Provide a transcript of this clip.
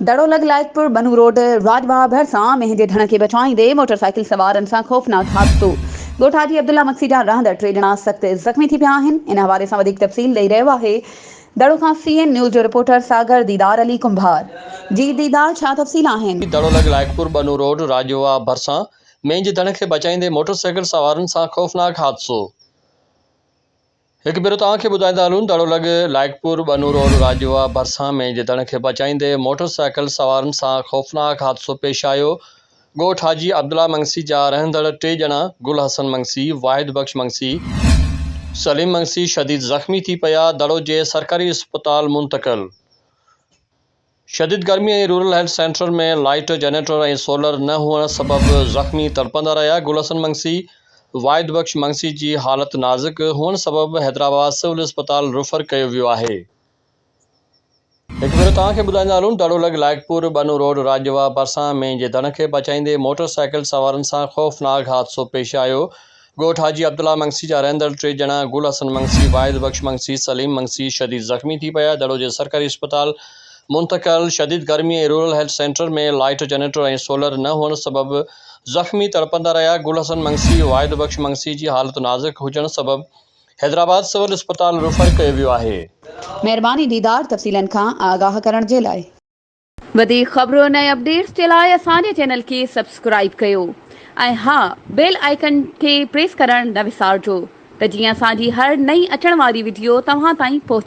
دڙو لڳ لائقپور ٻنو روڊ راڄواهه ڀرسان مينهن جي ڍڻ کي بچائيندي موٽر سائيڪل سوارن سان خوفناڪ حادثو، ڳوٺ حاجي عبدالله مگسي جا رهندڙ ٽي ڄڻا سخت زخمي ٿي پيا آهن، ان حوالي سان وڌيڪ تفصيل ڏئي رهيو آهي دڙو کان سي اين نيوز جو رپورٽر ساگر ديدار علي ڪنڀار جي ديدار ڇا تفصيل آهن. دڙو لڳ لائقپور ٻنو روڊ راڄواهه ڀرسان مينهن جي ڍڻ کي بچائيندي موٽر سائيڪل سوارن سان خوفناڪ حادثو، هڪ ڀيرو توهان کي ٻڌائيندا هلون ته اڙو لڳ لائق پور ٻنو روڊ راجوا ڀرسان مين جي دڙ کي بچائيندي موٽر سائيڪل سوارن سان خوفناڪ حادثو پيش آيو ڳوٺ حاجي عبدالله منگسي جا رهندڙ ٽي ڄڻا گل حسن منگسي، واحد بخش منگسي، سليم منگسي شديد زخمي ٿي پيا دڙو جي سرڪاري اسپتال منتقل. شديد گرمي ۽ rural health centre ۾ light, generator ۽ solar نه هئڻ سبب زخمي تڙپندا رهيا، گل حسن منگسي، واحد بخش منگسي جي حالت نازڪ هئڻ سبب حيدرآباد سول اسپتال ريفر ڪيو ويو آهي. هڪ ڀيرو توهان کي ٻڌائيندا هلون ته ڏڙولڳ لائقپور ٻنو روڊ راڄوا ڀرسان مين جي ڌڻ کي بچائيندي موٽر سائيڪل سوارن سان خوفناڪ حادثو پيش آيو، ڳوٺ حاجي عبدالله منگسي جا رهندڙ ٽي ڄڻا گل حسن منگسي، واحد بخش منگسي، سليم منگسي شديد زخمي ٿي پيا، دڙو جي سرڪاري اسپتال منتقل، شديد گرمي ۽ rural health centre ۾ light generator ۽ solar نه هئڻ سبب زخمي تڙپندا رهيا، گل حسن منگسي، واحد بخش منگسي جي حالت نازڪ هجڻ سبب حيدرآباد سول اسپتال ريفر ڪيو ويو آهي. مهرباني ديدار تفصيلن کان آگاهه ڪرڻ جي لاء. وڌيڪ خبرن ۽ اپڊيٽس جي لاء اسان جي چينل کي سبسڪرائيب ڪيو ۽ ها بيل آئيڪن کي پريس ڪرڻ نه وسارجو ته جيئن اسان جي هر نئين اچڻ واري وڊيو توهان تائين پهچي.